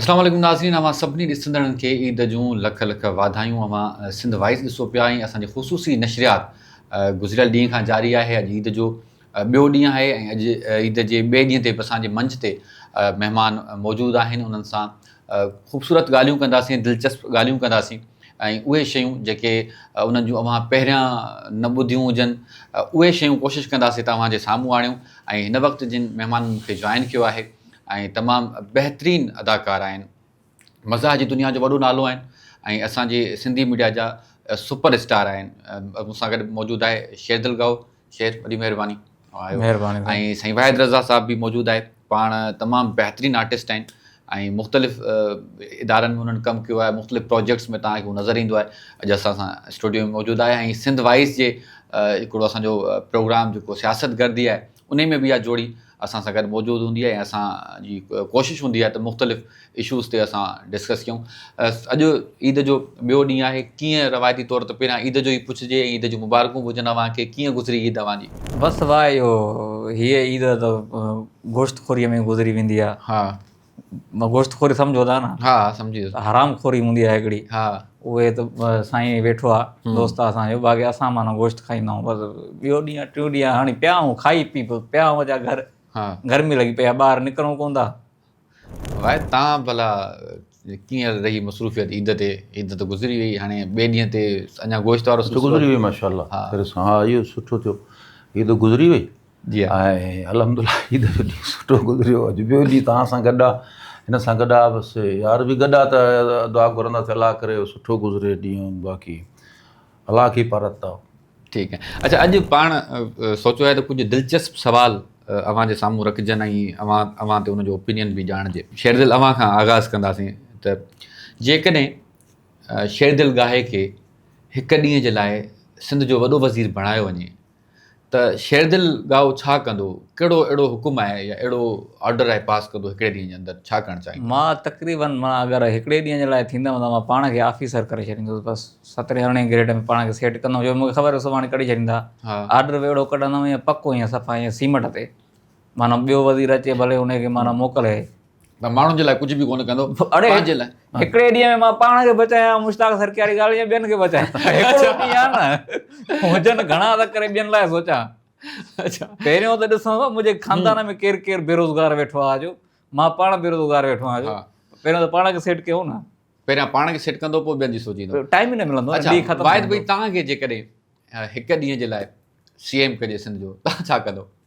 السلام عليڪم ناظرين اوهان سڀني ڏسندڙن کي عيد جون لک لک واڌايون اوهان سنڌ وائيس ڏسو پيا ۽ اسان جي خصوصي نشريات گذريل ڏينهن کان جاري آهي اڄ عيد جو ٻيو ڏينهن آهي ۽ اڄ عيد جي ٻئي ڏينهن تي به اسان جي منچ تي مهمان موجود آهن انهن سان خوبصورت ڳالهيون ڪنداسين دلچسپ ڳالهيون ڪنداسين ۽ اهي شيون جيڪي انهن جون اوهان پهريان نه ٻڌيون هجن اهي شيون ڪوشش ڪنداسين ته اوهان جي سامهون آڻيون ۽ هن وقت جن مهمانن مون کي جوائن ڪيو آهي ۽ تمام بهترين اداڪار آهن مزاح جي دنيا جو وڏو نالو آهن ۽ اسان جي سنڌي ميڊيا جا سپر اسٽار آهن مون سان گڏ موجود آهي شيردل ڳائو خير وڏي مهرباني آيو مهرباني ۽ سائين واحد رضا صاحب به موجود آهي پاڻ تمام بهترين آرٽسٽ آهن ۽ مختلف ادارن ۾ انهن ڪم ڪيو آهي مختلف پروجيڪٽس ۾ تان هو نظر ايندو آهي اڄ اسان سان اسٽوڊيو ۾ موجود آهي ۽ سنڌ وائيس جي هڪڙو اسان جو پروگرام جيڪو سياست گردي آهي انهي ۾ به اها جوڙي اسان سان گڏ موجود هوندي آهي ۽ اسان جي ڪوشش هوندي آهي ته مختلف اشوز تي اسان ڊسڪس ڪيون. اڄ عيد جو ٻيو ڏينهن آهي، ڪيئن روايتي طور ته پهريان عيد جو ئي پڇجي ۽ عيد جون مبارڪون به هجن اوهان کي، ڪيئن گذري عيد اوهان جي؟ بس واهه اهو هيء عيد ته گوشت خوريء ۾ گذري ويندي آهي. گوشت خوري سمجهو ٿا نه ها سمجهي ويس حرام خوري هوندي آهي هڪڙي ها اهي ته سائين ويٺو آهي دوست آهي اسان جو باقي اسان معنيٰ گوشت کائيندا آهيون بس ٻيو ڏينهن ٽيون ڏينهن هاڻي پيا آهيون کائي پي پيا آهيون اچا گهر ها گرمي لڳي پيا ٻاهر نڪرون ڪون ٿا وائي تان ڀلا ڪيئن رهي مصروفيت عيد تي عيد ته گذري وئي هاڻي ٻئي ڏينهن تي اڃا گوشت وارو گذري وئي ماشاءالله ها اهو سٺو ٿيو عيد گذري وئي جي ها ۽ الحمد الله هي دفعو ڏينهن سٺو گذريو اڄ ٻيو ڏينهن توهان سان گڏ آ هن سان گڏ آ بس يار به گڏ آ ته دعا گهرنداسي الله ڪري سٺو گذري ڏينهن باقي الله کي پارت ٿا ٺيڪ آهي اڇا اڄ پاڻ سوچيو آهي ته ڪجهه دلچسپ سوال اوهان جي سامهون رکجن ۽ اوهان اوهان تي ان جو اوپينين به ڄاڻجي شيردل اوهان کان آغاز ڪنداسين ته جيڪڏهن شيردل گاهي کي هڪ ڏينهن جي لاء سنڌ جو وڏو وزير بڻايو وڃي ته شيردل ڳائو ڇا ڪندو؟ ڪهڙو اهڙو حڪم آهي يا اهڙو آرڊر آهي پاس ڪندو هڪڙي ڏينهن جي اندر ڇا ڪرڻ چاهيندو؟ مان تقريباً معنيٰ اگر هڪڙي ڏينهن جي لاء ٿيندم ته مان پاڻ کي آفيسر ڪري ڇڏيندس بس سترهين ارڙهين گريڊ ۾ پاڻ کي سيٽ ڪندم جو مون کي خبر آهي سڀاڻي ڪڍي ڇڏيندا آرڊر به اهڙو ڪڍندم ائين پڪو ائين صفا ائين سيمٽ تي معنيٰ ٻيو وزير اچي ڀلي ان کي معنيٰ موڪلي مان ماڻهن جي لاء ڪجهه به ڪونه ڪندو پنهنجي لاء هڪڙي ڏينهن ۾ مان پاڻ کي بچايان مشتاق سرڪي واري ڳالهه جي ٻين کي بچايان هڪڙو ڏينهن آهي نه هجن گهڻا ته ڪري ٻين لاء سوچان اچا پهريون ته ڏسان ٿو منهنجي خاندان ۾ ڪير ڪير بيروزگار ويٺو آهي جو مان پاڻ بيروزگار ويٺو آهيان جو پهريون ته پاڻ کي سيٽ ڪيو نه پهريان پاڻ کي سيٽ ڪندو پوء ٻين جي سوچيندو ٽائم ئي نه ملندو اچا واحد ڀائی توهان کي جيڪڏهن هڪ ڏينهن جي لاء سي ايم ڪجي سنڌ جو توهان ڇا ڪندو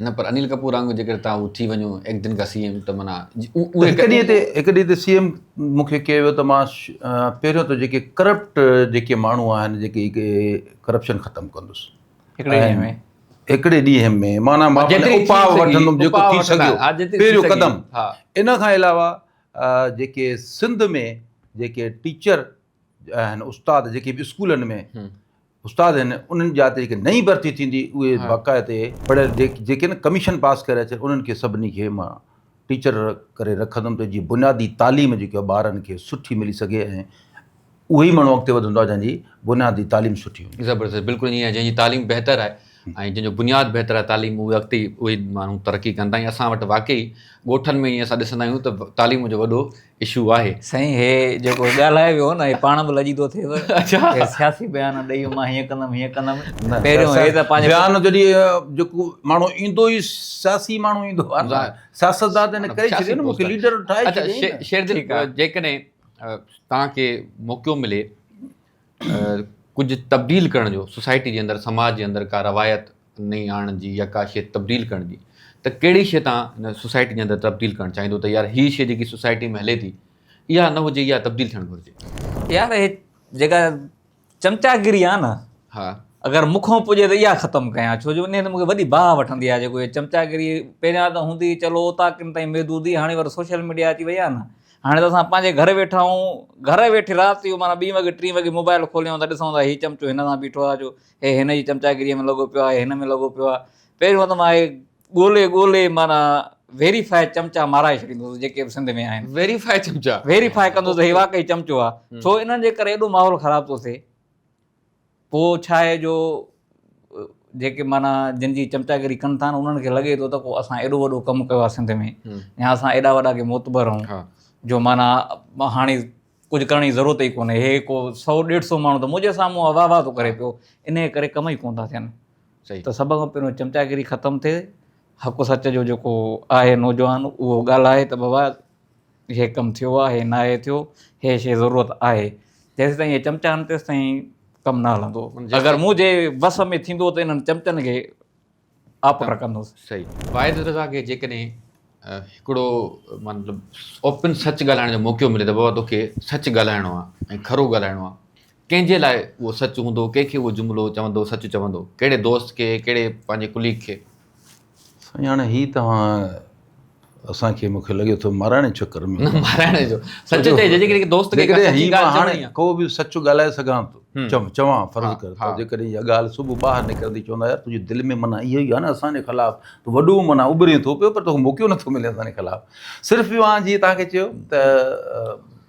نه پر انيل ڪپور وانگر جيڪڏهن تان هو ٿي وڃو ايڪ دن کا سي ايم ته معنيٰ هڪ ڏينهن تي هڪ ڏينهن تي سي ايم مون کي ڪيو ويو ته مان پهريون ته جيڪي ڪرپٽ جيڪي ماڻهو آهن جيڪي ڪرپشن ختم ڪندس هڪڙي ڏينهن ۾ هڪڙي ڏينهن ۾ معنيٰ مان اپاء وٺندم جيڪو ٿي سگهيو پهريون قدم ان کان علاوه جيڪي سنڌ ۾ جيڪي ٽيچر آهن استاد جيڪي به اسڪولن ۾ استاد آهن انهن جا جيڪي نئين ڀرتي ٿيندي اهي باقاعدي پڙهيل جيڪي نه ڪميشن پاس ڪري اچن انهن کي سڀني کي مان ٽيچر ڪري رکندم ته جيئن بنيادي تعليم جيڪي آهي ٻارن کي سٺي ملي سگهي ۽ اهو ئي ماڻهو اڳتي وڌندو آهي جنهن جي بنيادي تعليم سٺي هوندي زبردست بلڪل ائين آهي جنهن جي تعليم بهتر آهي ۽ جنهن جو بنياد بهتر آهي تعليم اهي اڳتي اهي ماڻهو ترقي ڪندا ۽ اسان وٽ واقعي ڳوٺن ۾ ائين اسان ڏسندا آهيون ته تعليم جو وڏو اشو آهي. سائين هي جيڪو ڳالهايو ويو نه هي پاڻ به لڄي ٿو ٿئي اچا هي سياسي بيان ڏئي مان هيئن ڪندم هيئن ڪندم پهريون هي ته پنهنجي بيان جڏي جيڪو ماڻهو ايندو ئي سياسي ماڻهو ايندو آهي سياست دان ته ڪري ڇڏي نه مونکي ليڊر ٺاهي ڇڏي شير دل جيڪڏهن توهان کي موقعو ملي ڪجهه تبديل ڪرڻ جو سوسائٽي جي اندر سماج جي اندر ڪا روايت نئين آڻڻ جي يا ڪا شيء تبديل ڪرڻ جي ته ڪهڙي شيء تان ان سوسائٽي جي اندر تبديل ڪرڻ چاهيندو ته يار هي شيء جيڪي سوسائٽي ۾ هلي ٿي اها نه هجي اها تبديل ٿيڻ گهرجي. يار هي جيڪا چمچاگيري آهي نه ها اگر مون کان پڄي ته اها ختم ڪيان ڇو جو انهي ۾ مون کي وڏي باهه وٺندي آهي جيڪو هي چمچاگيري پهريان ته هوندي چلو اوطاقن تائين محدود هئي هاڻي وري سوشل ميڊيا اچي وئي آهي نه هاڻي ته اسان پنهنجي گهر ويٺا آهيون، گهر ويٺي رات جو معنيٰ ٻين وڳي ٽين وڳي موبائيل کوليون ته ڏسون ٿا هي چمچو هن سان بيٺو آهي جو هي هن جي چمچاگيريء ۾ لڳو پيو آهي هن ۾ لڳو پيو آهي پهريون ته مان هي ڳولي ڳولي معنيٰ ويريفائي چمچا مارائي ڇڏيندو هوس جيڪي به سنڌ ۾ آهن ويريفائي چمچا ويريفائي ڪندو هوس ته هي واقعي چمچو آهي ڇو انهن جي ڪري ايڏو ماحول خراب ٿو ٿئي. پوء ڇا آهي جو جيڪي معنيٰ جن جي چمچاگري ڪن ٿا انهن کي لڳي ٿو ته ڪو اسان ايڏو وڏو ڪم ڪيو آهي سنڌ ۾ يا اسان ايڏا وڏا ڪي معتبر آهون جو معنيٰ هاڻي ڪجهه ڪرڻ جي ضرورت ئي ڪونهي هي ڪو سو ڏيڍ سو ماڻهو ته منهنجي سامهون واهه واهه ٿو ڪري پيو انهيء ڪري ڪم ئي ڪونه ٿا ٿين ته سڀ کان پهريون چمچاگري ختم ٿئي حق سچ جو جيڪو آهي نوجوان اهو ڳالهائي ته بابا هي ڪم ٿيو آهي هي ناهي ٿيو هي شيء ضرورت آهي جيستائين هي چمچا آهن تيستائين ڪم نه هلندو اگر مون جي وس ۾ ٿيندو ته انهن چمچن کي آپ رکندس صحيح واحد رضا کي جيڪڏهن هڪڙو مطلب اوپن سچ ڳالهائڻ جو موقعو ملي ته بابا توکي سچ ڳالهائڻو آهي ۽ کرو ڳالهائڻو آهي ڪنهن جي لاء اهو سچ هوندو، ڪنهن کي اهو جملو چوندو سچ چوندو، ڪهڙي دوست کي، ڪهڙي پنهنجي ڪليگ کي؟ سائين هاڻي هي توهان اسان کي مون کي لڳي ٿو مارائڻ جي چڪر ۾ نه مارائڻ جو سچ چئجي جيڪڏهن دوست کي ڪا سچي ڳالهه چوڻي آ. ڪو به سچ ڳالهائي سگهان ٿو چم چوان فرض ڪر ته جيڪڏهن اها ڳالهه صبح ٻاهر نڪرندي چوندا يار تنهنجي دل ۾ معنيٰ اهو ئي آ نه اسان جي خلاف تون وڏو معنيٰ اٻرين ٿو پيو پر توکي موقعو نٿو ملي اسان جي خلاف صرف اهو آ جيئن توهان کي چيو ته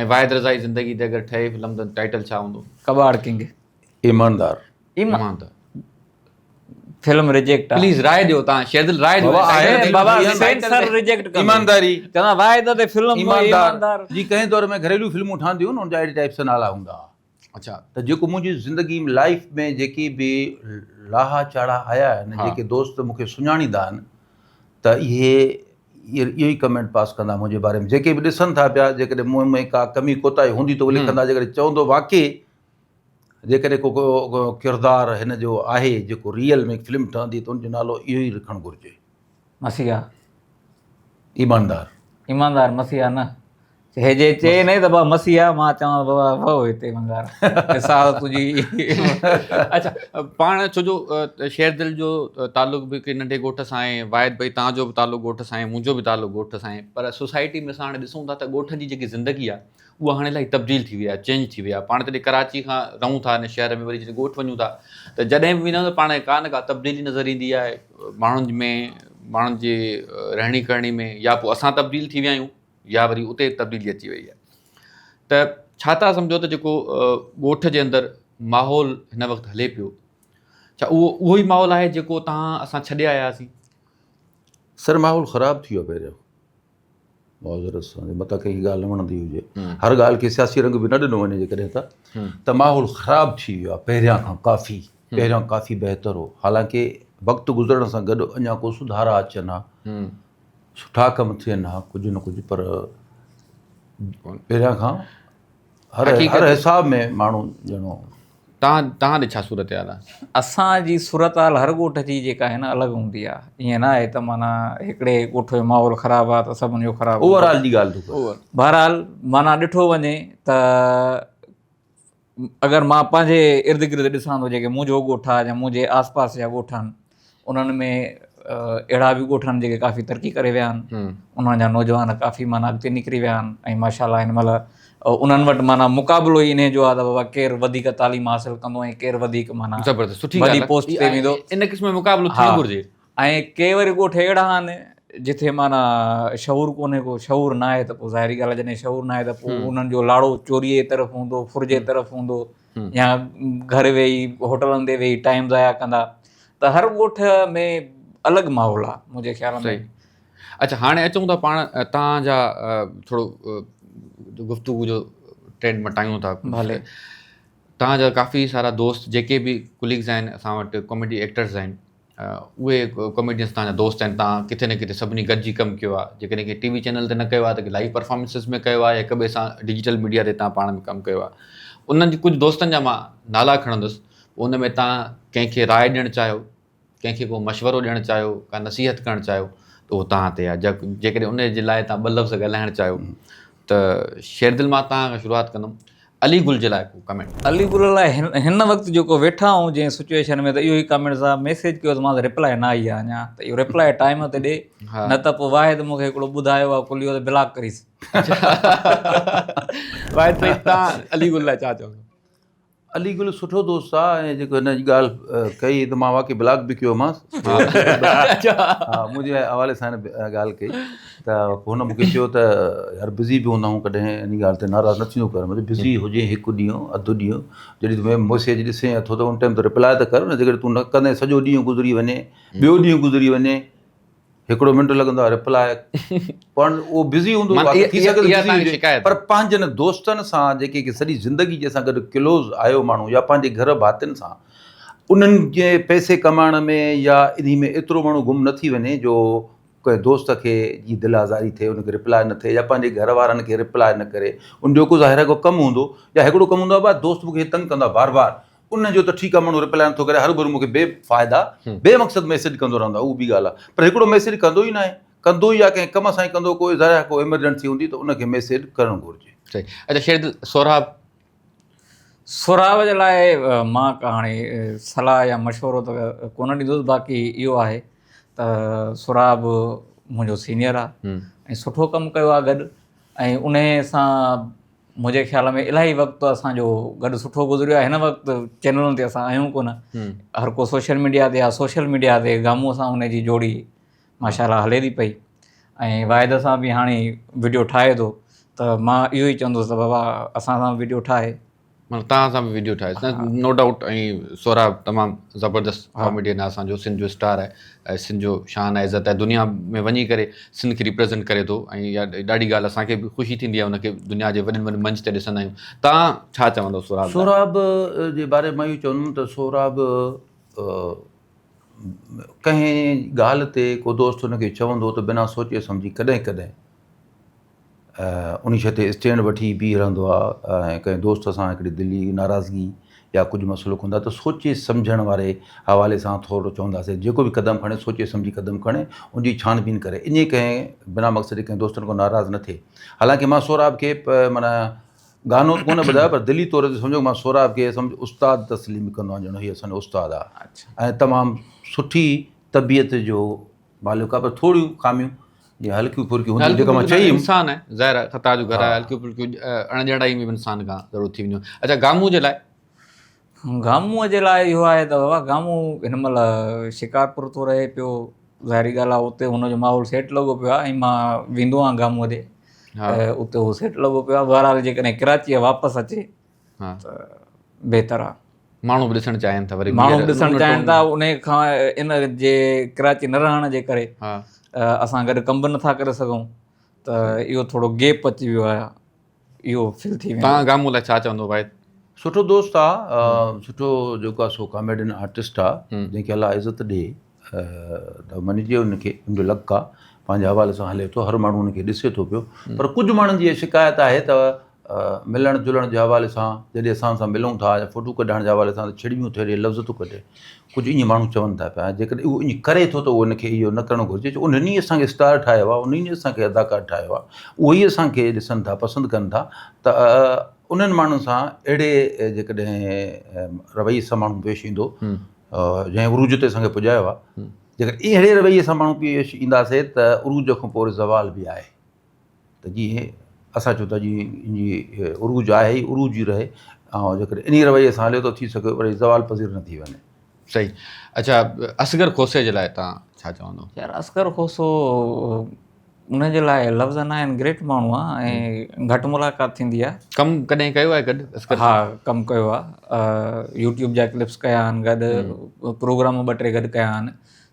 ۽ واحد رضائي زندگي تي اگر ٺهي فلم ته ٽائيٽل ڇا هوندو؟ ڪٻاڙ ڪنگ. ايماندار. ايماندار. فلم ريجيڪٽ آ. پليز راء ڏيو تان شيدل راء ڏيو. بابا آهي ته بابا سينسر ريجيڪٽ ڪندو. ايمانداري. چوان واحد تي فلم ايماندار. جي ڪنهن دور ۾ گهريلو فلمون ٺهنديون هن جا اهڙي ٽائيپ سان نالا هوندا ها. اچا ته جيڪو منهنجي زندگي ۾ لائف ۾ جيڪي به لاها چاڙها آيا آهن جيڪي دوست مونکي سڃاڻيندا آهن ته اهي اهو ئي ڪمينٽ پاس ڪندا منهنجي باري ۾ جيڪي به ڏسن ٿا پيا جيڪڏهن مون ۾ ڪا ڪمي ڪوتاهي هوندي ته لکندا جيڪڏهن چوندو واقعي جيڪڏهن ڪو ڪو ڪردار هن جو آهي جيڪو ريئل ۾ فلم ٺهندي ته ان جو نالو اهو ئي رکڻ گهرجي. مسيحا. ايماندار. ايماندار مسيحا نه هي جي چي نه ته بابا مسيحا مان چوان بابا وهو هتي ايماندار ساهو تنهنجي اچھا پاڻ ڇو جو شير دل جو تعلق به ڪي ننڍي ڳوٺ سان آهي واحد ڀائی تان جو به تعلق ڳوٺ سان آهي منهنجو به تعلق ڳوٺ سان آهي پر سوسائٽي ۾ اسان هاڻي ڏسون ٿا ته ڳوٺ جي جيڪي زندگي آهي اها هاڻي الائي تبديل ٿي وئي آهي چينج ٿي وئي آهي پاڻ جڏهن ڪراچي کان رهون ٿا ان شهر ۾ وري جڏهن ڳوٺ وڃون ٿا ته جڏهن به ويندا آهيون ته پاڻ کي ڪا نه ڪا تبديلي نظر ايندي آهي ماڻهن ۾ ماڻهن جي رهڻي ڪرڻي ۾ يا پوء اسان تبديل ٿي ويا آهيون يا وري اتي تبديلي اچي وئي آهي ته ڇا تها سمجهو ته جيڪو ڳوٺ جي اندر ماحول هن وقت هلي پيو ڇا اهو اهو ئي ماحول آهي جيڪو تها اسان ڇڏي آياسين سر ماحول خراب ٿي ويو پهريون معذرت سان جي متان ڪنهن کي ڳالهه نه وڻندي هجي هر ڳالهه کي سياسي رنگ به نه ڏنو وڃي جيڪڏهن ته ته ماحول خراب ٿي ويو آهي پهريان کان ڪافي پهريان ڪافي بهتر هو حالانڪه وقت گذرڻ سان گڏ اڃا ڪو سڌارا اچن ها سٺا ڪم ٿين ها ڪجهه نه ڪجهه پر پهريان کان هر حساب ۾ ماڻهو ڄڻو. تان تان ڏي ڇا صورتحال آ. اسان جي صورتحال هر ڳوٺ جي جيڪا آهي نه الڳ هوندي آ ائين نه آهي ته معنيٰ هڪڙي ڳوٺ جو ماحول خراب آ ته سڀن جو خراب اوور آل جي ڳالهه ٿو ڪري بهرحال معنيٰ ڏٺو وڃي ته اگر مان پنهنجي ارد گرد ڏسان ٿو جيڪي منهنجو ڳوٺ آ يا منهنجي آس پاس جا ڳوٺ آهن انهن ۾ اهڙا به ڳوٺ آهن جيڪي ڪافي ترقي ڪري ويا آهن انهن جا نوجوان ڪافي معنيٰ اڳتي نڪري ويا آهن ۽ ماشاء الله هن مهل انهن وٽ معنيٰ مقابلو ئي انهي جو آهي بابا ڪير وڌيڪ تعليم حاصل ڪندو ۽ ڪير وڌيڪ معنيٰ وڏي پوسٽ تي ويندو ان قسم جو مقابلو ٿيڻ گهرجي ۽ ڪي وري ڳوٺ اهڙا آهن جتي معنيٰ شعور ڪونهي ڪو شعور ناهي ته پوء ظاهري ڳالهه جڏهن شعور ناهي ته پوء انهن جو لاڙو چوريء جي طرف هوندو ڦر جي طرف هوندو يا گهر ويهي هوٽلن تي ويهي ٽائيم ضايع ڪندا ته هر ڳوٺ ۾ الڳ ماحول آهي منهنجي خيال ۾ اچھا هاڻي اچون ٿا پاڻ تان جا ٿورو گفتگو جو ٽرينڊ مٽايون ٿا ڀلي تان جا ڪافي سارا دوست جيڪي به ڪليگز آهن اسان وٽ ڪاميڊي ايڪٽرز آهن اهي ڪاميڊينس توهان جا دوست آهن توهان ڪٿي نه ڪٿي سڀني گڏجي ڪم ڪيو آهي جيڪڏهن ڪنهن ٽي وي چينل تي نه ڪيو آهي ته ڪنهن لائيو پرفارمنسز ۾ ڪيو آهي يا هڪ ٻئي سان ڊجيٽل ميڊيا تي توهان پاڻ ۾ ڪم ڪيو آهي انهن جي ڪجهه دوستن جا مان نالا کڻندس ان ۾ توهان ڪنهن کي راء ڏيڻ چاهيو ڪنهن کي ڪو مشورو ڏيڻ چاهيو ڪا نصيحت ڪرڻ چاهيو ته اهو توهان تي آهي جيڪڏهن ان جي لاء توهان ٻه لفظ ڳالهائڻ چاهيو ته شيردل مان توهان کان شروعات ڪندم علي گل جي لاء ڪو ڪمينٽ. علي گل لاء هن وقت جيڪو ويٺا آهون جنهن سچوئيشن ۾ ته اهو ئي ڪمينٽ صاحب ميسيج ڪيو ته مانس رپلائي نه آئي آهي اڃا ته اهو رپلائي ٽائيم تي ڏي نه ته پوء واحد مونکي هڪڙو ٻڌايو آهي ڪليو ته بلاڪ ڪريس واحد سائين تان علي گل لاء ڇا چوندو. علي گل سٺو دوست آ ۽ جيڪو هن اڄ ڳالهه ڪئي ته مان واقعي بلاڪ به ڪيومانس منهنجي حوالي سان هن ڳالهه ڪئي. ته هن مون کي چيو ته يار بزي به هوندا آهيون ڪڏهن ان ڳالهه تي ناراض نه ٿيندو ڪر مطلب بزي هجين هڪ ڏينهن اڌ ڏينهن جڏهن تون ميسيج ڏسين اٿو ته ان ٽائيم تي رپلاء ته ڪر نه جيڪڏهن تون نه ڪندين سڄو ڏينهن گذري وڃي ٻيو ڏينهن گذري وڃي هڪڙو منٽ لڳندو آهي رپلاء پڙهن اهو بزي هوندو پر پنهنجن دوستن سان جيڪي سڄي زندگي جي سان گڏ ڪلوز آيو ماڻهو يا پنهنجي گهر ڀاتين سان انهن جي پئسي ڪمائڻ ۾ يا انهي ۾ ايترو ماڻهو گم نه ٿي وڃي جو ڪنهن دوست کي جي دل آزاري ٿئي ان کي ريپلائي نه ٿئي يا پنهنجي گهر وارن کي ريپلائي نه ڪري ان جو ڪو ظاهر آهي ڪو ڪم هوندو يا هڪڙو ڪم هوندو آهي دوست مون کي تنگ ڪندو آهي بار بار ان جو ته ٺيڪ آهي ماڻهو ريپلائي نه ٿو ڪري هرڀرو مون کي بي فائده بي مقصد ميسيج ڪندو رهندو آهي اهو ٻي ڳالهه آهي پر هڪڙو ميسيج ڪندو ئي ناهي ڪندو يا ڪنهن ڪم سان ئي ڪندو ڪو ظاهر آهي ڪو ايمرجنسي هوندي ته ان کي ميسيج ڪرڻ گهرجي. صحيح اچا شير دل سهراب. سھراب جي لاء مان ڪا ھاڻي صلاح يا مشورو ته ڪونه ڏيندس باقي اھو آھي ته سھراب منھنجو سينيئر آ ۽ سٺو ڪم ڪيو آ گڏ ۽ انھي سان منھنجي خيال ۾ الاھي وقت اسان جو گڏ سٺو گذريو آ ھن وقت چينلن تي اسان آھيون ڪونه ھر ڪو سوشل ميڊيا تي آ سوشل ميڊيا تي گامون سان ھن جي جوڙي ماشاء الله هلي ٿي پئي ۽ واحد صاحب به هاڻي ويڊيو ٺاهي ٿو ته مان اهو ئي چوندس ته بابا اسان سان ويڊيو ٺاهي مطلب تان سان به ويڊيو ٺاهي سان نو ڊائوٽ ۽ سهراب تمام زبردست ڪاميڊين اسان جو سنڌ جو اسٽار آهي ۽ سنڌ جو شان آهي عزت آهي دنيا ۾ وڃي ڪري سنڌ کي ريپريزنٽ ڪري ٿو ۽ ڏاڍي ڳالهه اسان کي به خوشي ٿيندي آهي ان کي دنيا جي وڏن وڏن منچ تي ڏسندا آهيون تان ڇا چوندو سهراب سهراب جي باري مان اهو چوندم ته سهراب ڪنهن ڳالهه تي ڪو دوست هن کي چوندو ته بنا سوچي سمجهي ڪڏهن ڪڏهن انيء شيء تي اسٽينڊ وٺي بيهي رهندو آهي ۽ ڪنهن دوست سان هڪڙي دلي ناراضگي يا ڪجهه مسئلو ڪندا آهيون ته سوچي سمجهڻ واري حوالي سان ٿورڙو چونداسين ته جيڪو به قدم کڻي سوچي سمجهي قدم کڻي ان جي ڇاڻ بين ڪري اڃي ڪنهن بنا مقصدي ڪنهن دوستن کان ناراض نه ٿئي حالانڪه مان سهراب کي معنيٰ گانو ته ڪونه ٻڌايو پر دلي طور تي سمجهو مان سهراب کي سمجهه استاد تسليم ڪندو آهيان ڄڻ هي اسان جو استاد آهي ۽ تمام سٺي طبيعت جو مالڪ آهي پر ٿوريون خاميون جي هلڪيون ڦرڪيون هونديون جيڪا مان چئي انسان آهي ظاهر خطا جو گهر آهي هلڪيون ڦرڪيون اڻڄاڻائي ۾ به انسان کان ضرور ٿي وينديون اچا گامو جي لاء گامو جي لاء اهو آهي ته بابا گامو هن مهل شڪارپور ٿو رهي پيو ظاهري ڳالهه آهي اتي هن جو ماحول سيٽ لڳو پيو آهي ۽ مان ويندو آهيان گامو ڏي اتي هو سيٽ لڳو پيو آهي بهرحال جيڪڏهن ڪراچيء واپس اچي ته بهتر آهي ماڻهو به ڏسڻ چاهين ٿا ماڻهو به ڏسڻ چاهين ٿا ان کان ان جي ڪراچي نه رهڻ جي ڪري اسان گڏ ڪم به نٿا ڪري سگهون ته اهو ٿورو گيپ اچي ويو آهي اهو فل ٿي ويندو توهان گامون لاء ڇا چوندو واحد. سٺو دوست آ سٺو جيڪو آ سو ڪاميڊين آرٽسٽ آ جنهن کي الله عزت ڏي ته مڃجي ان کي ان جو لڪ آ پنهنجي حوالي سان هلي ٿو هر ماڻهو ان کي ڏسي ٿو پيو پر ڪجهه ماڻهن جي اها شڪايت آهي ته ملڻ جلڻ جي حوالي سان جڏهن اسان سان ملون ٿا يا فوٽو ڪڍائڻ جي حوالي سان ته ڇڙٻيون ٿيڙي لفظ ٿو ڪڍي ڪجهه ايئن ماڻهو چون ٿا پيا جيڪڏهن اهو ايئن ڪري ٿو ته ان کي اهو نه ڪرڻ گهرجي ڇو انهن ئي اسان کي اسٽار ٺاهيو آهي انهن ئي اسان کي اداڪار ٺاهيو آهي اهو ئي اسان کي ڏسن ٿا پسند ڪن ٿا ته انهن ماڻهن سان اهڙي جيڪڏهن رويي سان ماڻهو پيش ايندو جنهن عروج تي اسان کي پڄايو آهي جيڪڏهن اهڙي رويي سان ماڻهو پيش اينداسي ته عروج کان پوء زوال به آهي ته جيئن اسان چون ٿا جي ان جي عروج آهي ئي عروج ئي رهي ۽ جيڪڏهن انهي رويي سان هليو ته ٿي سگهي وري زوال پذير نه ٿي وڃي. صحيح اڇا اصغر کوسي جي لاء توهان ڇا چوندو؟ يار اصغر کوسو ان جي لاء لفظ ناهن گريٽ ماڻهو آ ۽ گهٽ ملاقات ٿيندي آ. ڪم ڪڏهن ڪيو آهي گڏ اصغر سان؟ ها ڪم ڪيو آ يوٽيوب جا ڪلپس ڪيا آهن گڏ پروگرام ٻه ٽي گڏ ڪيا آهن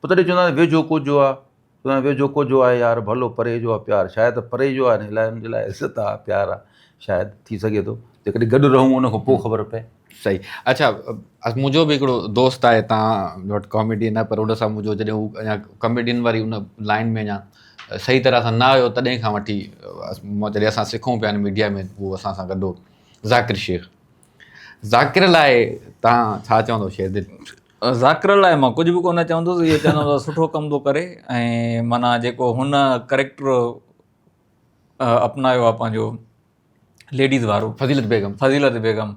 پوء تڏهن چوندا آهن ويجهو ڪوجهو آ، چوندا آهن ويجهو ڪوجهو آهي يار، ڀلو پري جو آ پيار، شايد پري جو آهي نه الاء ان جي لاء عزت آ پيار آ، شايد ٿي سگهي ٿو جيڪڏهن گڏ رهون ان کان پوء خبر پئي. صحيح اڇا منهنجو به هڪڙو دوست آهي تان وٽ ڪاميڊين آهي پر ان سان منهنجو جڏهن هو اڃا ڪاميڊين واري ان لائين ۾ اڃا صحيح طرح سان نه آيو تڏهن کان وٺي مان جڏهن اسان سکون پيا آهن ميڊيا ۾ هو اسان سان گڏ هو ذاڪر شيخ ذاڪر لاء تان ڇا چوندو شيردل. ذاڪر لاء مان ڪجهه به ڪونه چوندس اهو چوندم ته سٺو ڪم ٿو ڪري ۽ معنيٰ جيڪو هن ڪريڪٽر اپنايو آهي پنهنجو ليڊيز وارو فضيلت بيگم فضيلت بيگم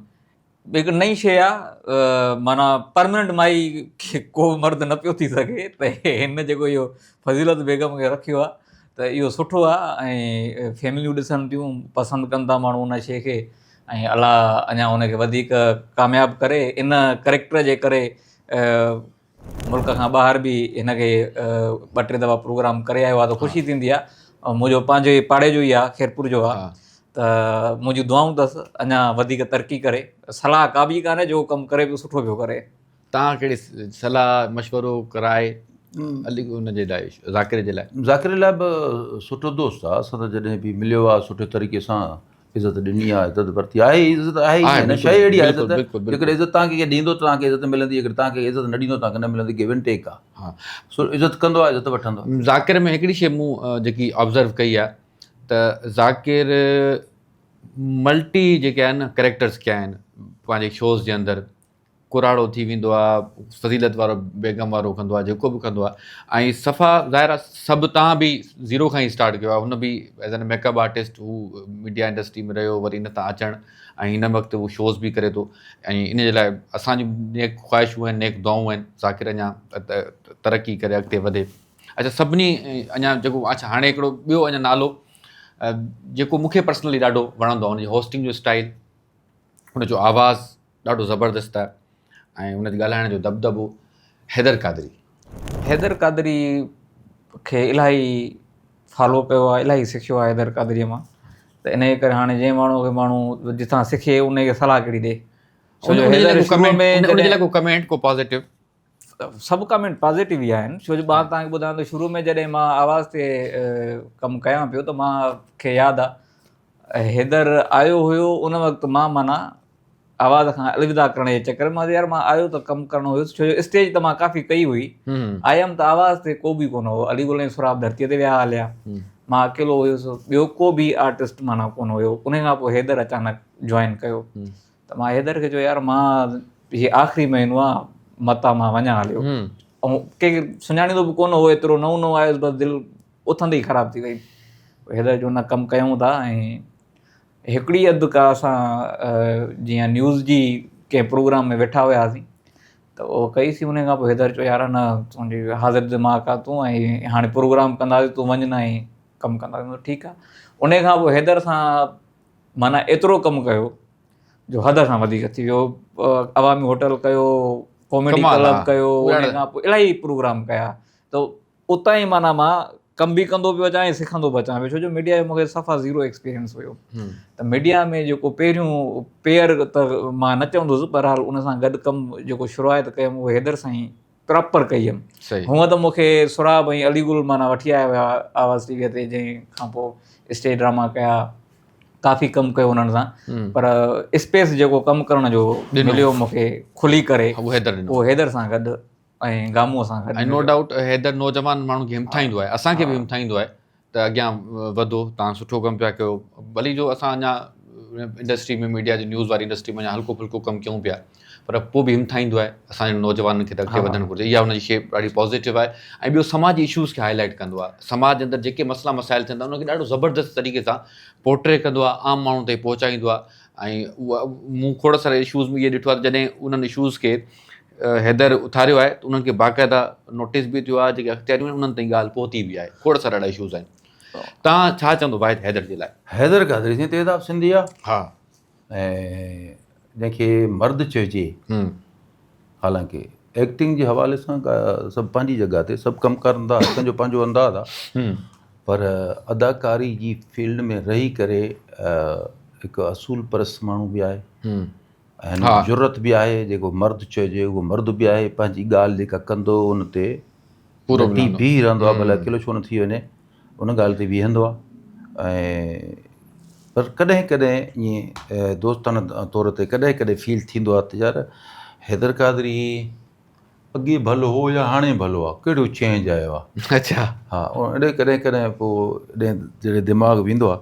هڪ نئين شيء آهي معنيٰ پرمننٽ مائي کي ڪو مرد نه پيو ٿي سگهي ته هن جيڪو اهو فضيلت بيگم کي رکيو آهي ته اهو سٺو آهي ۽ فيمليون ڏسن ٿيون پسند ڪن ٿا ماڻهو ان شيء کي ۽ الله اڃا ان کي وڌيڪ ڪامياب ڪري ان ڪريڪٽر جي ڪري ملڪ کان ٻاهر به هن کي ٻه ٽي دفعا پروگرام ڪري آيو آ ته خوشي ٿيندي آ ۽ منهنجو پنهنجو هي پاڙي جو ئي آ خيرپور جو آ ته منهنجون دعائون تس اڃا وڌيڪ ترقي ڪري صلاح ڪا ٻي ڪانهي جو ڪم ڪري پيو سٺو پيو ڪري تان ڪهڙي صلاح مشورو راء علي ان جي لاء ذاڪر جي لاء ذاڪر لاء به سٺو دوست آ سندس جڏهن به مليو آ سٺي طريقي سان عزت ڏني آ عزت ورتي آ آهي عزت آهي ئي نه شيء اهڙي آ عزت جيڪڏهن عزت تان کي ڏيندو تان کي عزت ملندي جيڪڏهن تان کي عزت نه ڏيندو تان کي نه ملندي گيو اينڊ ٽيڪ آ سو عزت ڪندو آ عزت وٺندو ذاڪر ۾ هڪڙي شيء مون جيڪي آبزرو ڪئي آ ته ذاڪر ملٽي جيڪي آهن ڪريڪٽرز ڪيا آهن پنهنجي شوز جي اندر ڪراڙو ٿي ويندو آ فضيلت وارو بيگم وارو ڪندو آ جيڪو به ڪندو آ ۽ صفا ظاهر آ سڀ تان به زيرو کان ئي اسٽارٽ ڪيو آ هن به as an makeup artist هو ميڊيا انڊسٽري ۾ رهيو وري ان تان اچڻ ۽ هن وقت هو شوز به ڪري ٿو ۽ ان جي لاء اسان جون نيڪ خواهشون آهن نيڪ دعائون آهن ذاڪر اڃا ترقي ڪري اڳتي وڌي اچھا سڀني اڃا جيڪو اچھا هاڻي هڪڙو ٻيو اڃا نالو جيڪو مونکي پرسنلي ڏاڍو وڻندو آ ان جي هوسٽنگ جو اسٽائل ان جو آواز ڏاڍو زبردست آهي ۽ ان جي ڳالهائڻ جو دٻدٻو حيدر قادري حيدر قادري کي الاهي فالو ڪيو آهي الاهي سکيو آهي حيدر قادري مان ته انهي ڪري هاڻي جنهن ماڻهو کي ماڻهو جتان سکي انهي کي صلاح ڪهڙي ڏي ڇو جو حيدر ڪمينٽ ڪو پازيٽو سڀ ڪمينٽ پازيٽو ئي آهن ڇو جو ٻار تان ٻڌان ته شروع ۾ جڏهن مان آواز تي ڪم ڪيان پيو ته مان کي ياد آهي حيدر آيو هيو ان وقت مان معنيٰ آواز کان الوداع ڪرڻ جي چڪر مان يار مان آيو ته ڪم ڪرڻو هيس ڇو جو اسٽيج ته مان ڪافي ڪئي هئي آيم ته آواز تي ڪو به ڪونه هو علي گل ۽ سراب ڌرتي تي ويا هليا مان اڪيلو هيس ٻيو ڪو به آرٽسٽ معنيٰ ڪونه هيو ان کان پوء حيدر اچانڪ جوائن ڪيو ته مان حيدر کي چيو يار مان هي آخري مهينو آ متان مان وڃان هليو ۽ ڪنهن سڃاڻيندو به ڪونه هو ايترو نئون نئون آيس بس دل اٿندي ئي خراب ٿي وئي حيدر جو نه ڪم ڪيون ٿا ۽ هڪڙي اڌ ڪا اسان جيئن نيوز جي ڪنهن پروگرام ۾ ويٺا هياسين ته اهو ڪئيسي ان کان پوء حيدر چيو يار نه تنهنجي حاضر دماغ آ تون ۽ هاڻي پروگرام ڪنداسي تون وڃ نه ۽ ڪم ڪنداسي ٺيڪ آ ان کان پوء حيدر سان معنيٰ ايترو ڪم ڪيو جو حد کان وڌيڪ ٿي ويو عوامي هوٽل ڪيو ڪاميڊي ڪلب ڪيو ان کان پوء الاهي پروگرام ڪيا ته اتان ئي معنيٰ مان ڪم به ڪندو پيو اچان ۽ سکندو به اچان پيو ڇو جو ميڊيا جو مونکي صفا زيرو ايڪسپيرينس هيو ته ميڊيا ۾ جيڪو پهريون پيئر ته مان نه چوندس بهرحال ان سان گڏ ڪم جيڪو شروعات ڪيم اهو حيدر سائين پراپر ڪئي هيم هونء ته مون کي سهراب ۽ علي گل معنيٰ وٺي آيا هيا آواز ٽي ويء تي جنهن کان پوء اسٽيج ڊراما ڪيا ڪافي ڪم ڪيو انهن سان پر اسپيس جيڪو ڪم ڪرڻ جو مليو مون کي کلي ڪري اهو حيدر سان گڏ ۽ گامو سان گڏ نو ڊائوٽ حيدر نوجوان ماڻهن کي همٿائيندو آهي اسان کي به همٿائيندو آهي ته اڳيان وڌو تان سٺو ڪم پيا ڪيو ڀلي جو اسان اڃا انڊسٽري ۾ ميڊيا جي نيوز واري انڊسٽري ۾ اڃا هلڪو ڦلڪو ڪم ڪيون پيا پر پوء به همٿائيندو آهي اسان جي نوجوانن کي ته اڳتي وڌڻ گهرجي اها ان جي شيء ڏاڍي پازيٽو آهي ۽ ٻيو سماجي ايشوز کي هاء لائيٽ ڪندو آهي سماج جي اندر جيڪي مسئلا مسائل ٿين ٿا ان کي ڏاڍو زبردست طريقي سان پورٽري ڪندو آهي عام ماڻهو تائين پهچائيندو آهي ۽ مون کوڙ سارا ايشوز ۾ اهي ڏٺو آهي ته جڏهن انهن ايشوز کي حيدر اٿاريو آهي ته انهن کي باقاعده نوٽيس به ٿيو آهي جيڪي اختياريون آهن انهن تائين ڳالهه پهتي به آهي کوڙ سارا اهڙا اشوز آهن تان ڇا چوندو واحد حيدر جي لاء حيدر قادري سائين تيزاب سنڌي آ ها ۽ جنهن کي مرد چئجي حالانڪه ايڪٽنگ جي حوالي سان سڀ پنهنجي جڳهه تي سڀ ڪم ڪرن ٿا هر ڪنهنجو پنهنجو انداز آ پر اداڪاري جي فيلڊ ۾ رهي ڪري هڪ اصول پرست ماڻهو به آهي هن ۾ جرئت به آهي، جيڪو مرد چئجي اهو مرد به آهي، پنهنجي ڳالهه جيڪا ڪندو ان تي ڊٽي بيهي رهندو آهي، ڀلي اڪيلو ڇو نه ٿي وڃي، ان ڳالهه تي بيهندو آهي ۽ پر ڪڏهن ڪڏهن ائين دوستانه طور تي ڪڏهن ڪڏهن فيل ٿيندو آهي ته يار حيدر قادري اڳي ڀلو هو يا هاڻي ڀلو آهي، ڪهڙو چينج آيو آهي. اڇا. ها اهڙي ڪڏهن ڪڏهن پوء جڏهن دماغ ويندو آهي.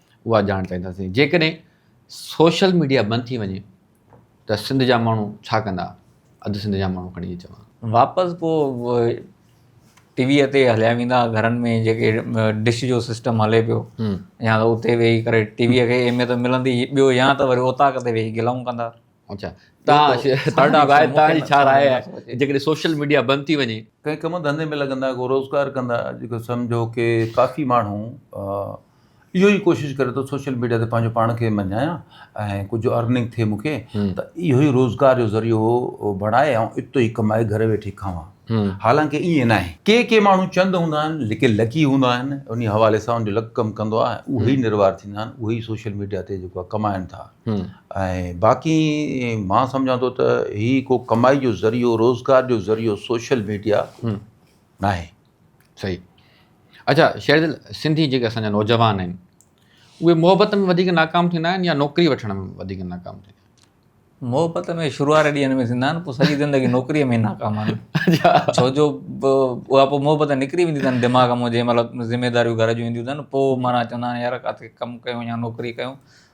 اها ڄاڻ چاهينداسين جيڪڏهن سوشل ميڊيا بند ٿي وڃي ته سنڌ جا ماڻهو ڇا ڪندا اڌ سنڌ جا ماڻهو کڻي اچو واپس پو ٽي وي تي هليا ويندا گهرن ۾ جيڪي ڊش جو سسٽم هلي پيو يا اتي ويهي ڪري ٽي وي کي اهميت ملندي ٻيو يا ته وري اوطاق تي ويهي گلائون ڪندا اچا تان ساڊا راء تان جي ڇا راء آهي جيڪڏهن سوشل ميڊيا بند ٿي وڃي ڪنهن ڪم ڌنڌي ۾ لڳندا ڪو روزگار ڪندا جيڪو سمجهو ڪي ڪافي ماڻهو اهو ئي ڪوشش ڪري ٿو سوشل ميڊيا تي پنهنجو پاڻ کي مڃايان ۽ ڪجهه ارننگ ٿئي مونکي ته اهو ئي روزگار جو ذريعو بڻائي ۽ اتو ئي ڪمائي گهر ويٺي کاوان حالانڪه ائين ناهي ڪي ڪي ماڻهو چند هوندا آهن لڪي لڪي هوندا آهن انهي حوالي سان ان جو لڪ ڪم ڪندو آهي اهي ئي نروار ٿيندا آهن اهي ئي سوشل ميڊيا تي جيڪو آهي ڪمائن ٿا ۽ باقي مان سمجهان ٿو ته هي ڪو ڪمائي جو ذريعو روزگار جو ذريعو سوشل ميڊيا ناهي صحيح اچا شير دل سنڌي جيڪي اسان جا نوجوان آهن اهي محبت ۾ وڌيڪ ناڪام ٿيندا آهن يا نوڪري وٺڻ ۾ وڌيڪ ناڪام ٿيندا محبت ۾ شروعات ڏينهن ۾ ٿيندا آهن پوء سڄي زندگي نوڪري ۾ ناڪام آهن ڇو جو اها پوء محبت نڪري ويندي اٿن دماغ ۾ جنهن مطلب ذميداريون گهر جون اينديون اٿن پوء مانا چوندا آهن يار ڪاٿي ڪم ڪيو يا نوڪري ڪيو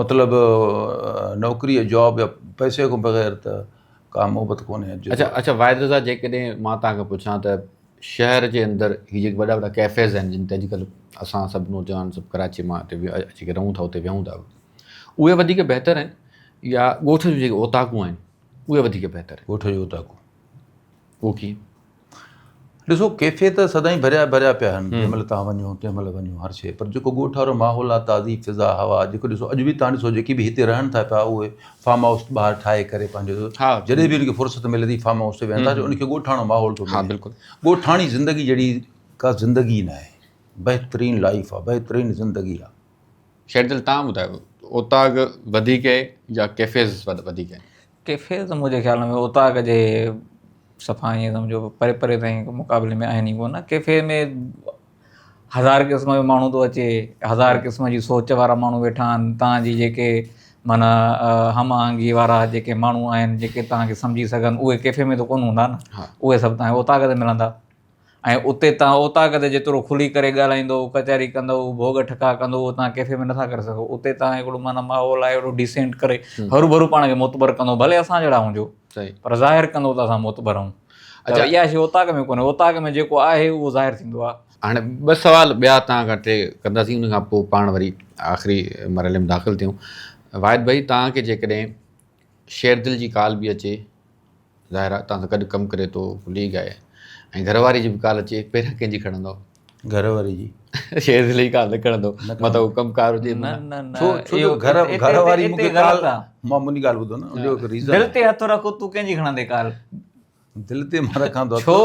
مطلب نوڪري يا جاب يا پئسي کان بغير ته ڪا محبت ڪونهي اچا اچا واحد رضا جيڪڏهن مان توهان کي پڇان ته شهر جي اندر هي جيڪي وڏا وڏا ڪيفيز آهن جن تي اڄڪلهه اسان سڀ نوجوان سڀ ڪراچي مان هتي اچي ڪري رهون ٿا اتي ويهون ٿا اهي وڌيڪ بهتر آهن يا ڳوٺ جون جيڪي اوطاقون آهن اهي وڌيڪ بهتر آهن ڳوٺ جون اوطاقون اوڪي ڏسو ڪيفي ته سدائين ڀريا ڀريا پيا آهن جنهن مهل تهان وڃو تنهن مهل وڃو هر شيء پر جيڪو ڳوٺ وارو ماحول آهي تازي فضا هوا جيڪو ڏسو اڄ به تهان ڏسو جيڪي به هتي رهن ٿا پيا اهي فارم هائوس ٻاهر ٺاهي ڪري پنهنجو جڏهن به ان کي فرصت ملي ٿي فارم هائوس تي ويهن ٿا جو ان کي ڳوٺاڻو ماحول ٿو ملي ڳوٺاڻي زندگي جهڙي ڪا زندگي نه آهي بهترين لائف آهي بهترين زندگي آهي شير دل تان ٻڌايو اوطاق وڌيڪ آهي يا ڪيفيز وڌيڪ آهن ڪيفي ته منهنجي خيال ۾ اوطاق جي صفا ائين سمجهو پري پري تائين مقابلي ۾ آهن ئي ڪو نه ڪيفي ۾ هزار قسم جو ماڻهو ٿو اچي هزار قسم جي سوچ وارا ماڻهو ويٺا آهن تان جي جيڪي معنيٰ هم آهنگي وارا جيڪي ماڻهو آهن جيڪي تان کي سمجهي سگهن اهي ڪيفي ۾ ته ڪونه هوندا نه اهي سڀ تان کي اوطاق تي ملندا ۽ اتي تان اوطاق تي جيترو کلي ڪري ڳالهائيندو، ڪچهري ڪندو، ڀوڳ ٺڪاء ڪندو اهو تان ڪيفي ۾ نٿا ڪري سگهو. اتي تان هڪڙو معنيٰ ماحول آهي اهڙو ڊيسينٽ ڪري هروڀرو پاڻ کي معتبر ڪندو ڀلي اسان جهڙا هجو پر ظاهر ڪندو ته اسان معتبر آهيون. ته اها شي اوطاق ۾ ڪونهي، اوطاق ۾ جيڪو آهي اهو ظاهر ٿيندو آهي. هاڻي ٻه سوال ٻيا توهان کان ٽي ڪنداسين ان کان پوء پاڻ وري آخري مرحلي ۾ داخل ٿيون. واحد ڀائي توهان کي جيڪڏهن شيردل جي ڪال به اچي ظاهر آ تان سان گڏ ڪم ڪري ٿو ليگ آهي ۽ گهر واري جي به ڪال اچي پهريان ڪنهن جي کڻندو گهر واري جي شير دل جي ڪال نه کڻندو مطلب هو ڪم ڪار هجي نه نه نه ڇو ڇو جو گهر گهر واري مون کي ڪال مان منهنجي ڳالهه ٻڌو نه جو هڪ ريزن دل تي هٿ رکو تو ڪنهن جي کڻندي ڪال دل تي مان رکان ٿو ڇو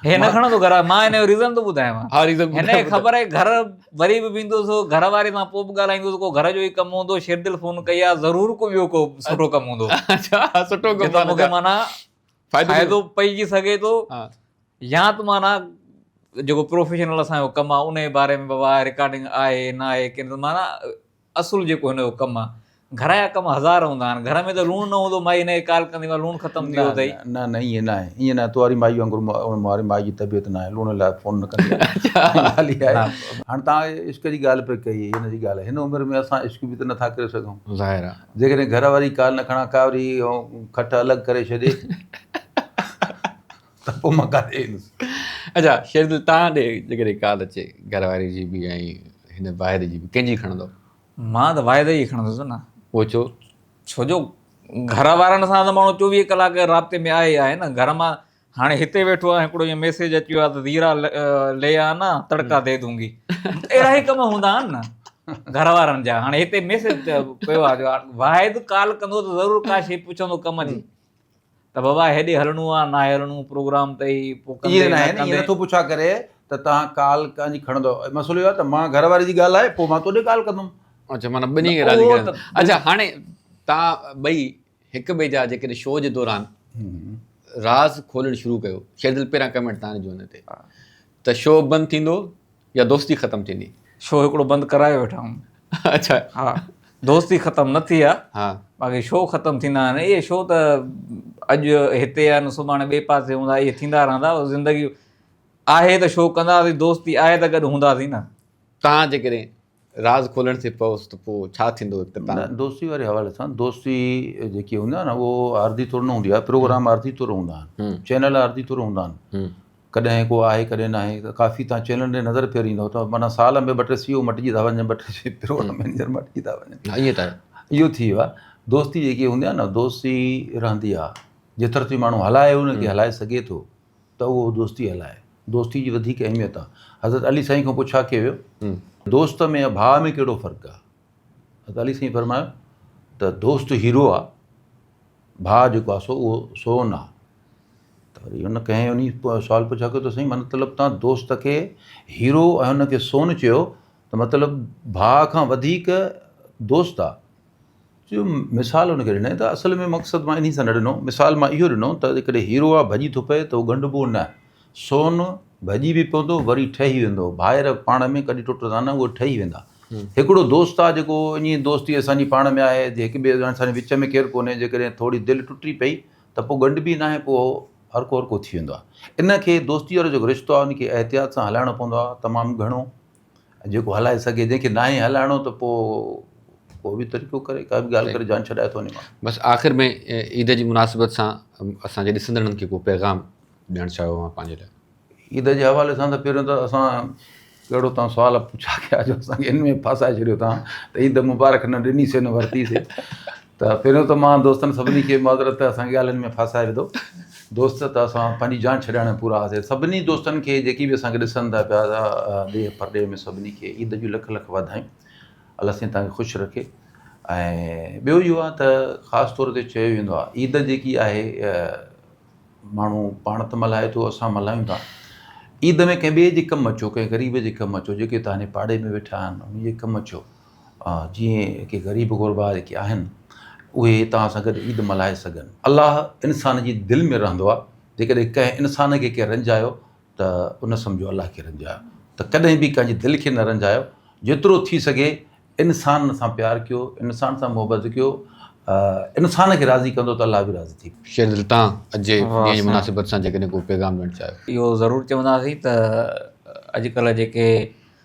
هي نه کڻندو گهر مان هن جو ريزن ٿو ٻڌايان ها ريزن هن کي خبر آهي گهر وري به ويندو سو گهر واري سان پوء به ڳالهائيندو سو ڪو گهر جو ئي ڪم هوندو شيردل فون ڪئي آ ضرور ڪو ٻيو ڪو سٺو ڪم هوندو اچھا سٺو ڪم مون کي معنی فائدو پئجي سگهي ٿو يا ته معنی جيڪو پروفيشنل اسان جو ڪم آ ان جي باري ۾ بابا رڪارڊنگ آهي نه آهي ڪن معنی اصل جيڪو هن جو ڪم آ. گهر جا ڪم هزار هوندا آهن. گهر ۾ ته لوڻ نه هوندو مائي هن کي ڪال ڪندي ماء لوڻ ختم ٿي ويو اٿئي. نه نه ائين ناهي ائين ناهي تو واري مائي وانگر مون واري مائي جي طبيعت ناهي لوڻ لاء فون نه ڪندي ڳالهه اها آهي هاڻ توهان عشق جي ڳالهه پئي ڪئي هن جي ڳالهه هن عمر ۾ اسان عشق به ته نٿا ڪري سگهون ظاهر آ جيڪڏهن گهر واري ڪال نه کڻان ڪا وري کٽ الڳ ڪري ڇڏي. ته پوء مان ڪاڏي ايندس. اچا شيردل توهان ڏي جيڪڏهن ڪال اچي گهر واري جي به ۽ هن واحد جي به ڪنهن جي کڻندو؟ مان ته واحد جي کڻندس نه. اهو ڇو؟ ڇو جو گهر وارن سان ته ماڻهو چوويهه ڪلاڪ رابطي ۾ آهي ئي آهي نه. گهر مان هاڻي هتي ويٺو آهيان هڪڙو ائين ميسيج اچي ويو آهي ته زيرا لي آنا تڙڪا دي دونگي. اهڙا ئي ڪم هوندا آهن نه گهر وارن جا. هاڻي هتي ميسيج پيو آهي جو واحد ڪال ڪندو ته ضرور ڪا شيء پڇندو ڪم جي. ته بابا هيڏي هلڻو آ ناهي هلڻو پروگرام ته هي پوء ڪندي ائين ناهي نه ائين نٿو پڇا ڪري ته تهان ڪال ڪانجي کڻندؤ مسئلو اهو آ ته مان گهر واري جي ڳالهائي پوء مان توڏي ڪال ڪندم. اڇا معنيٰ ٻنهي کي راضي ڪرڻ اڇا هاڻي تهان ٻئي هڪ ٻئي جا جيڪڏهن شو جي دوران راز کولڻ شروع ڪيو شيدل پهريان ڪمينٽ تهان جو هن تي ته شو بند ٿيندو يا دوستي ختم ٿيندي. شو هڪڙو بند ڪرايو ويٺا آهيون. اڇا. ها دوستي ختم نه ٿي آهي. ها. باقي شو ختم ٿيندا آهن. اهي شو ته اڄ هتي آهن سڀاڻي ٻئي پاسي هوندا اهي ٿيندا رهندا زندگي آهي ته شو ڪنداسين دوستي آهي ته گڏ هونداسين نه. تان جيڪڏهن راز کولڻ ٿي پوس ته پوء ڇا ٿيندو اختتام؟ نه دوستي واري حوالي سان دوستي جيڪي هوندي آهي نه اهو عارضي طور نه هوندي آهي پروگرام عارضي طور هوندا آهن چينل عارضي طور هوندا آهن ڪڏهن ڪو آهي ڪڏهن ناهي ڪافي تان چينلن ڏي نظر ڦيريندو ته معنيٰ سال ۾ ٻه ٽي سيو مٽجي ٿا وڃن ٻه ٽي سيو پروگرام مينيجر مٽجي ٿا وڃن ائين ته اهو ٿي ويو آهي دوستي جيڪي هوندي آهي نه دوستي رهندي آهي جيتر تائين ماڻهو هلائي هن کي هلائي سگهي ٿو ته اهو دوستي هلائي. دوستي جي وڌيڪ اهميت آ. حضرت علي سائين کان پوء ڇا ڪيو ويو؟ دوست ۾ ۽ ڀاء ۾ ڪهڙو فرق آ؟ حضرت علي سائين فرمايو ته دوست هيرو آ، ڀاء جيڪو آ سو اهو سون آ. ته وري ان ڪنهن ان سوال پڇا ڪيو ته سائين مطلب تان دوست کي هيرو ۽ ان کي سون چيو ته مطلب ڀاء کان وڌيڪ دوست آ. جو مثال ان ڪري ڏنائين ته اصل ۾ مقصد مان انهي سان نه ڏنو مثال مان اهو ڏنو ته جيڪڏهن هيرو آ ڀڄي ٿو پئي ته هو ڳنڍبو نه سون ڀڄي به پوندو وري ٺهي ويندو ڀائر پاڻ ۾ ڪڏهن ٽٽندا نه اهي ٺهي ويندا هڪڙو دوست آ جيڪو انهي دوستي اسان جي پاڻ ۾ آهي جي هڪ ٻئي جا اسان جي وچ ۾ ڪير ڪونهي جيڪڏهن ٿوري دل ٽٽي پئي ته پوء ڳنڍبي ناهي پوء هو هرکو هرکو ٿي ويندو آ ان کي دوستي وارو جيڪو رشتو آ ان کي احتياط سان هلائڻو پوندو آ تمام گهڻو جيڪو هلائي سگهي جنهن کي ناهي هلائڻو ته پوء ڪو به طريقو ڪري ڪا به ڳالهه ڪري جان ڇڏائي ٿو وڃي ماڻهو بس آخر ۾ عيد جي مناسبت سان اسان جي ڏسندڙن کي ڪو پيغام ڏيڻ چاهيو اوهان پنهنجي لاء عيد جي حوالي سان ته پهريون ته اسان ڪهڙو تان سوال پڇا ڪيا جو اسان کي ان ۾ ڦاسائي ڇڏيو تان ته عيد مبارڪ نه ڏني سي نه ورتي سي ته پهريون ته مان دوستن سڀني کي معذرت ته اسان کي ڳالهين ۾ ڦاسائي وڌو دوست ته اسان پنهنجي جان ڇڏائڻ ۾ پورا هئاسي سڀني دوستن کي جيڪي به اسان کي ڏسن ٿا پيا ڏيهه پرڏيهه ۾ سڀني کي عيد جون لک لک واڌايون الله سائين تهان کي خوش رکي ۽ ٻيو اهو آهي ته خاص طور تي چيو ويندو آهي عيد جيڪي آهي ماڻهو پاڻ ته ملهائي ٿو اسان ملهايون ٿا عيد ۾ ڪنهن ٻئي جي ڪم اچو ڪنهن غريب جي ڪم اچو جيڪي تهانجي پاڙي ۾ ويٺا آهن ان جي ڪم اچو جيئن ڪي غريب غربا جيڪي آهن اهي توهان سان گڏ عيد ملهائي سگهن الله انسان جي دل ۾ رهندو آهي جيڪڏهن ڪنهن انسان کي ڪنهن رنجايو ته ان سمجهو الله کي رنجايو ته ڪڏهن به ڪنهن جي دل کي نه رنجايو جيترو ٿي سگهي انسان سان پيار ڪيو انسان سان محبت ڪيو انسان کي راضي ڪندو ته الله به راضي ٿي شير دل تان اڄ جي ڏينهن جي مناسبت سان جيڪڏهن ڪو پيغام ڏيڻ چاهيو اهو ضرور چونداسين ته اڄڪلهه جيڪي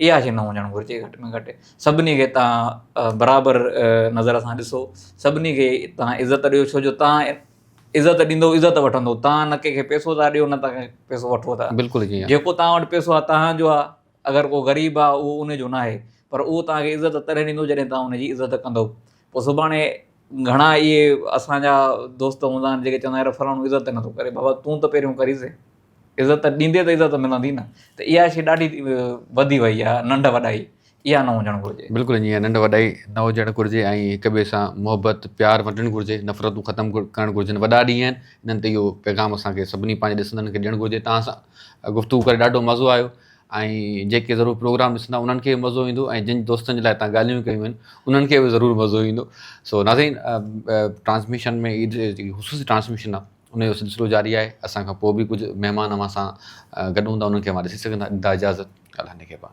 اها شي نه هجڻ گهرجي گهٽ ۾ گهٽ سڀني کي تان برابر نظر سان ڏسو سڀني کي تان عزت ڏيو ڇو جو تان عزت ڏيندو عزت وٺندو تان نه ڪنهن کي پيسو ٿا ڏيو نه تان کي پيسو وٺو ٿا بلڪل جي جيڪو تان وٽ پيسو آ تان جو آ اگر ڪو غريب آ اهو ان جو ناهي پر اهو تان کي عزت تڏهن ڏيندو جڏهن تان ان جي عزت ڪندو پو سڀاڻي گهڻا اهي اسان جا دوست هوندا آهن جيڪي چوندا آهن يار فلاڻو عزت نٿو ڪري بابا تون ته پهريون ڪريس عزت ڏيندي ته عزت ملندي نه ته اها شي ڏاڍي وڌي وئي آهي ننڍ وڏائي اها نه هجڻ گهرجي. بلڪل ائين ننڍ وڏائي نه هجڻ گهرجي ۽ هڪ ٻئي سان محبت پيار ونڊڻ گهرجي نفرتون ختم ڪرڻ گهرجن وڏا ڏينهن آهن انهن تي اهو پيغام اسان کي سڀني پنهنجي ڏسندڙن کي ڏيڻ گهرجي توهان سان گفتگو ڪري ڏاڍو مزو آيو ۽ جيڪي ضرور پروگرام ڏسندا انهن کي به مزو ايندو ۽ جن دوستن جي لاء تان ڳالهيون ڪيون آهن انهن کي به ضرور مزو ايندو سو ناظرين ٽرانسميشن ۾ خصوصي ٽرانسميشن آهي ان جو سلسلو جاري آهي اسان کان پوء به ڪجهه مهمان اوهان سان گڏ هوندا انهن کي اوهان ڏسي سگهندا ڏيندا اجازت ڳالهه نگهبان.